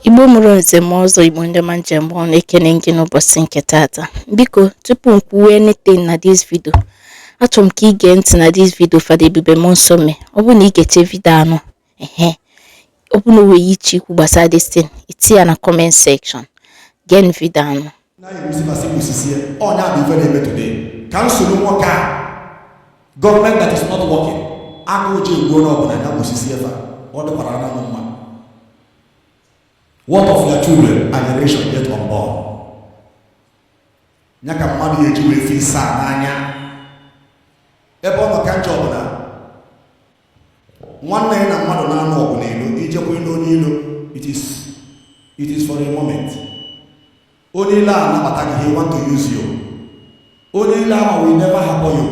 igbo mụrụ nze mụọ ọzọ igbo ndị ọma m ji eme ọnụ ekene m gị n'ụbọchị nke taata biko tupu m kwuwe anything na this video achọrọ m ka ị gee ntị na this video fada ebube mmụọ nsọ mee ọ bụrụ na ị gechee vidio anụ ehe ọ bụrụ na o nwee ihe ị chọ ikwu gbasara this thing i tinye ya na comment section gee vidio anụ ka m soro nwoke a government that is not working aka ụjọ egbuo na ọbụla ya gwụsisi efe ọ dịkwara na mma what of your children and generation yet unborn ya ka mmadụ ya-eji wee fi saa n'anya ebe ọ nọ ka njọ ọbụla nwanne ya na mmadụ na-anụ ọgụ n'ilo i jekwulu onye ilo it is it is for a moment onye ilo anabata gị he want to use you onye ilo ahụ will never harbor you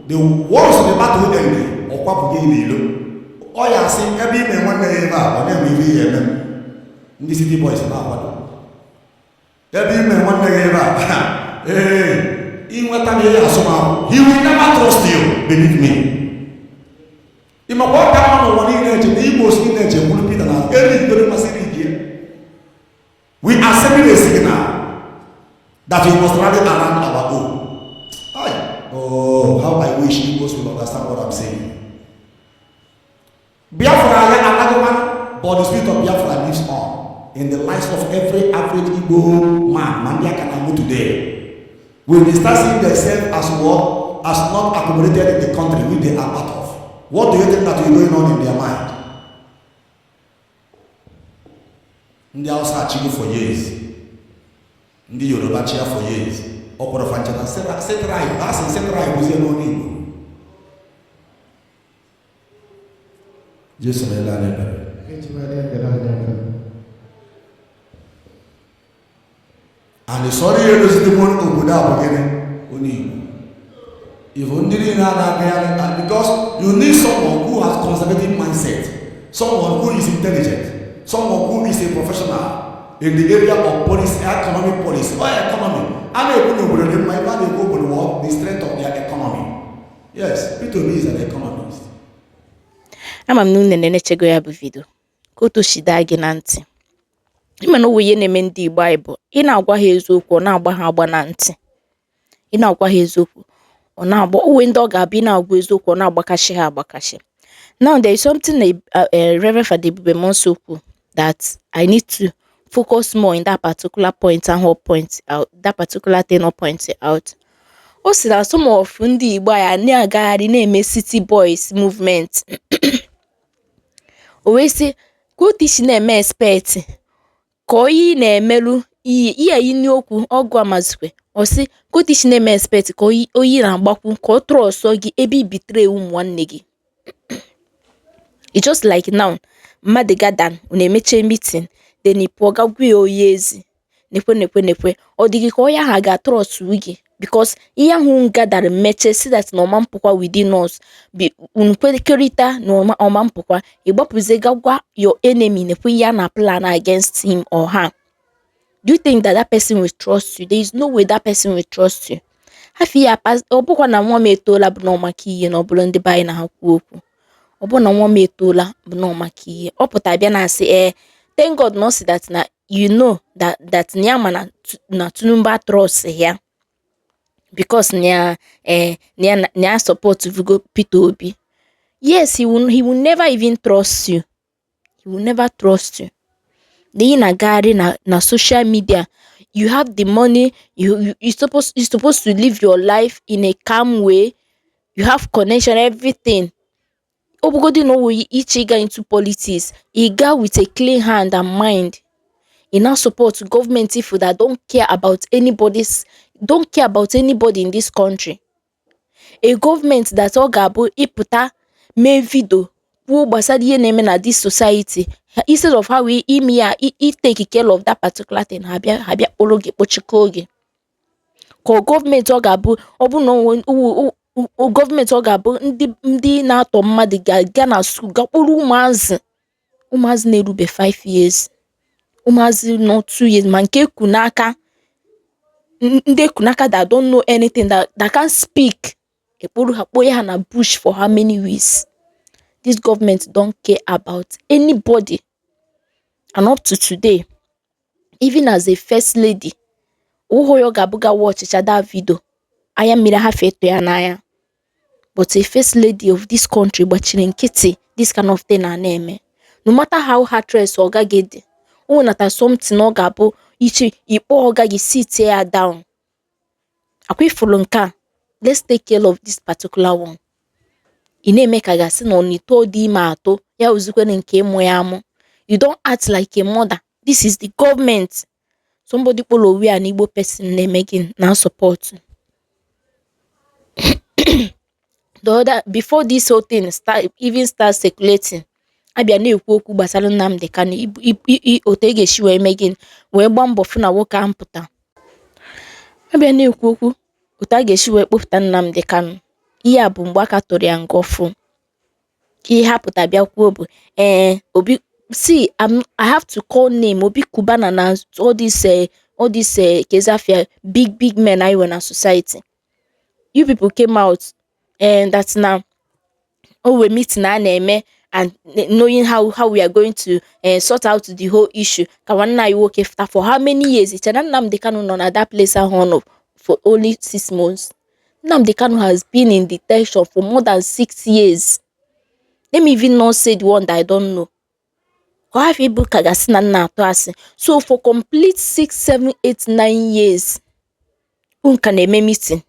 the once the battle end ọ kwapụ gị n'ilo ọ ya-asị ebe i me nwanne ya ebe a ọ na-eme ihe ya eme ndị city boys na-akwado ebe i me nwanne gị ebe a ee i nweta m ihe asọmahụ he will never trust you believe me ị makwa ọ ka mma n'ụwa niile eche na igbo osi niile eche gburu pita na eri ikpere masịrị ike we are sending a signal that we must rally around our own oh how i wish igbos will understand what i'm saying Biafra ya anagoma but the spirit of Biafra lives on in the lives of every average Igbo man ma ndị a ka na-amụ today when they start seeing themselves as what as not accommodated in the country which they are part of what do you think that is going on in their mind ndị Hausa achịgo for years ndị Yoruba chịa for years ọ kpọrọ fanchata setrai asị setrai bụzie n'ọnụ Igbo Jesu meela anyị ebere. Anyị sọrọ ihe dozidebo obodo a bụ gịnị? Onye Igbo. Igbo ndị niile a na-agagharị and because you need someone who has conservative mindset, someone who is intelligent, someone who is a professional in the area of policy, economic policy, or economy. A na-ekwu na obodo dị mma ebe a na-ekwu obodo the strength of their economy. Yes, Peter Obi is an economist. Ama m na unu enenechego ya bụ vidio kọọ otu o si daa gị na ntị ị ma na o nwee ihe na-eme ndị Igbo anyị bụ ị na-agwa ha eziokwu ọ na-agba ha agba na ntị ị na-agwa ha eziokwu ọ na-agba o nwee ndị ọ ga-abụ ị na-agwa eziokwu ọ na-agbakashi ha agbakashi Now there is something a, a, a Reverend Father Ebube Muonso kwuru that I need to focus more in that particular point ahụ ọ point out that particular thing ọ point out. O si na some of ndị Igbo ya na-agagharị na-eme city boys movement o wee sị ka otu i si na-eme expect ka onye ị na-emerụ ihe ihe yi n'okwu ọgụ amazikwe ọ sị ka otu i si na-eme expect ka onye onye ị na-agbakwu ka ọ trust gị ebe ị betray ụmụ nwanne gị just like now mmadụ gather nọ na-emeche meeting then ị pụọ ga gwa onye ezi nekwe nekwe nekwe ọ dịghị ka onye ahụ ga-atrust gị because ihe ahụ unu gather-ra meche sị that na ọ ma mpụkwa within us bụ unu kwekọrịta na ọ ma ọ ma mpụkwa ị gbapụzie ga gwa your enemy nekwe ihe a na plan against him or her do you think that that person will trust you there is no way that person will trust you hafi ya pas ọ bụkwa na nwa m etoola bụ na ọ maka ihe na ọ bụrụ ndị be anyị na ha kwuo okwu ọ bụ na nwa m etoola bụ na ọ maka ihe ọ pụta bịa na-asị ee thank God na ọ sị that na you know that that na ya ma na Tu- na Tinubu atrust ya because na ya eh, na ya na ya supportbugo Peter Obi yes he will, he will never even trust you he will never trust you na ị na-agagharị na na social media you have the money you you you supposed you supposed to live your life in a calm way you have connection everything ọ bụgodị na owu iche ịga into politics ị ga with a clean hand and mind ị na support gọọmenti ifu that don't care about anybody's don't care about anybody in this country a government that ọ ga-abụ ị pụta mee video kwuo gbasara ihe na-eme na this society instead of ha wee ime ya itake care of that particular thing ha bịa ha bịa kpọrọ gị kpọchikọọ gị ka government ọ ga-abụ ọ bụ na government ọ ga-abụ ndị ndị na-atọ mmadụ ga-aga na school ga kpụrụ ụmụazị ụmụazị na-erube 5 years ụmụazị nọ 2 years ma nke e ku n'aka ndị e ku n'aka that don't know anything that, that can't speak e kporo ha kpoye ha na bush for how many weeks this government don't care about anybody and up to today even as a first lady ụhụ ya ọ ga-abụ ga watchichaa that video anya mmiri ga-afụta ya n'anya but a first lady of this country gbachiri nkịtị this kind of thing a na-eme no matter how heartless ọga gị dị o nwenata something ọ ga-abụ ị chee ị kpọọ ọga gị sit ya down ọkwa ị fụrụ nke a let's take care of this particular one ị na-eme ka a ga-asị na ọ na-eto dị ime atụ ya ozikwere nke ịmụ ya amụ you don't act like a mother This is the government. Somebody kpọrọ onwe ya an Igbo person na-eme gị na support. The other before this whole thing start even start circulating, a bịa na-ekwu okwu gbasara Nnamdi Kanu otu e ga-esi wee mee gịnị wee gbaa mbọ fụ na nwoke ahụ pụta. A bịa na-ekwu okwu otu a ga-esi wee kpọpụta Nnamdi Kanu, ihe a bụ mgbe a ka tụrụ ya nga ọfụụ. ihe ha pụta bịa kwuo bụ ee obi see I'm, i have to call name Obi Cubana na all this uh, all this uh, eh, kezi afa ya big big men anyị nwere na society you people came out and eh, that na o nwee meeting a na-eme and knowing how how we are going to uh, sort out the whole issue ka nwanne anyị nwoke fụta for how many years i che na Nnamdi Kanu nọ na that place ahụ ọ nọ for only six months Nnamdi Kanu has been in detention for more than six years. Let me even not say the one that I don't know. ọ hapụ ịbụ ka a ga-asị na m na-atụ asị. So for complete six, seven, eight, nine years, unu ka na-eme meeting.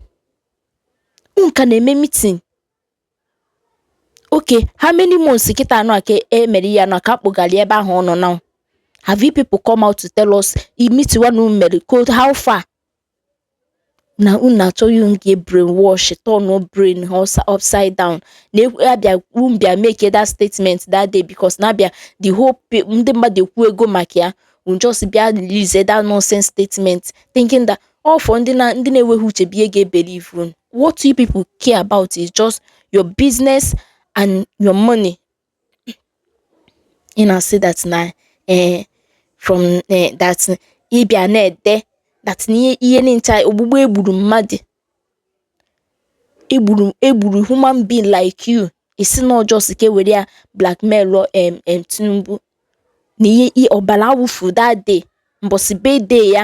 Unu ka na-eme meeting. Okay, how many months kịta anọ aka e mere ya na ka a kpọgara ebe ahụ ọ nọ now? Have you people come out to tell us meeting unu mere how far? na unu na-achọ unu ga brain wash turn brain ha upside down na abịa unu bịa make that statement that day because na abịa the whole ndị mmadụ ekwuwego maka ya unu just bịa release that nonsense statement thinking that all for ndị na ndị na-enweghị uche bụ ihe ga-ebelieve unu what you people care about is just your business and your money ị na-asị that na ee eh, from eh, that ị bịa na-ede that na ihe ncha ogbugbu e gburu mmadụ e gburu e gburu human being like you ị sị na ọ just ka e were ya blackmail em em Tinubu na ihe ọbara awụfu that day mbọsị birthday ya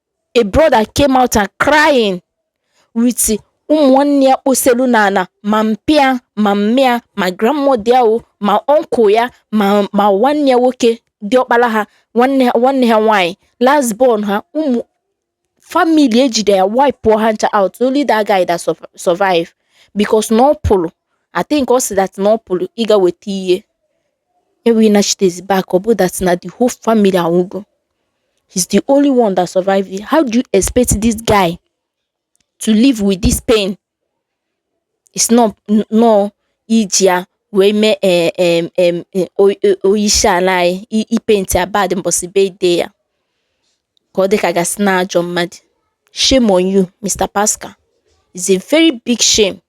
a brother came out and crying with ụmụnne ya kposelu n'ala ma mpa ya ma mma ya ma grandmother ahụ ma uncle ya ma ma nwanne ya nwoke dị ọkpara ha nwanne ha nwanne ha nwaanyị last born ha ụmụ family e jide ya wipe ha ncha out only that guy that survive because na ọ pụrụ I think ọ sị that na ọ pụrụ ịga weta ihe O wee nachitezie back, ọ bụ that na the whole family anwụgo. He's the only one that survived it. How do you expect this guy to live with this pain? Ị sị na ọ iji ya wee mee eh, em, em, eh, o- o- onyeisi ala anyị i- ịpaint ya bad mbọsị birthday ya ka ọ dị ka a ga-asị na ajọ mmadụ. Shame on you, Mr. Pascal. It's a very big shame.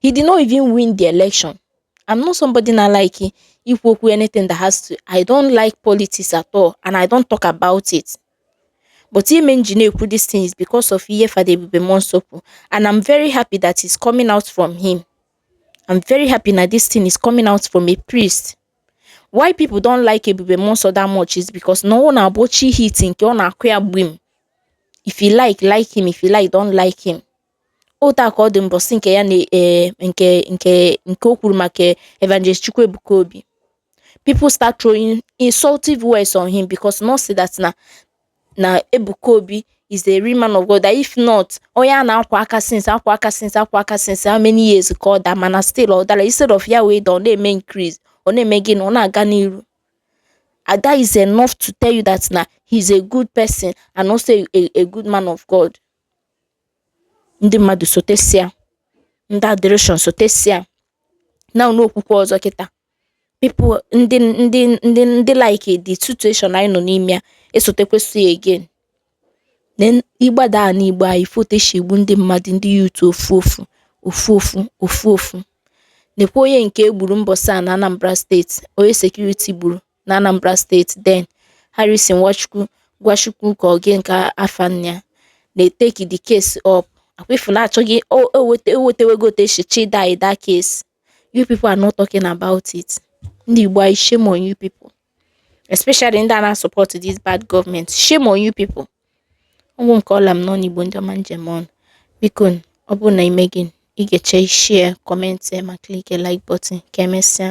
He did not even win the election. I'm not somebody na like ikwu okwu anything that has to I don't like politics at all and I don't talk about it. But ihe mere ji na-ekwu these things because of ihe Fada Ebube Monsokwu and I'm very happy that it's coming out from him. I'm very happy that this thing is coming out from a priest. Why people don't like Ebube Monso that much is because no one na-abụ chi hit nke ọ na-akụ ya gbim. If you like, like him. If you like, don't like him. Otu a ka ọ dị mbọsị nke ya na eh, nke nke nke o kwuru maka Evangelist Chukwuebuka Obi. People start throwing insultive words on him because na ọ sị that na na Ebuka Obi is a real man of God that if not onye a na-akwa aka since akwa aka since akwa aka since how many years ka ọ daa mana still ọ dara instead of ya wee daa ọ na-eme increase ọ na-eme gịnị ọ na-aga n'iru and that is enough to tell you that na he is a good person and also a, a, a good man of God. ndị mmadụ sotesịa ndị adoration sotesịa na ụlọ okwukwe ọzọ kịta people ndị ndị ndị ndị like the situation anyị nọ n'ime ya esotekwesị ya again na ị gbadaa n'igbo anyị foteshi igbu ndị mmadụ ndị youth ofu ofu ofu ofu ofu ofu nekwa onye nke e gburu mbọsị a na anambra steeti onye security gburu n'Anambra steeti then Harrison Nwachukwu gwa Chukwu ka ọ gịnị ka afa nna ya na-eteki the case up akwefu na-achọghị ewetewego otu e si chida that case you people are not talking about it ndị Igbo anyị shame on you people especially ndị a na-support this bad government shame on you people ọ gwụ ka ọ ra m n'ọnụ Igbo ndị ọma ndewo nụ biko ọ bụrụ na ime gị ị ga-eche share comment ma click like button ka emesịa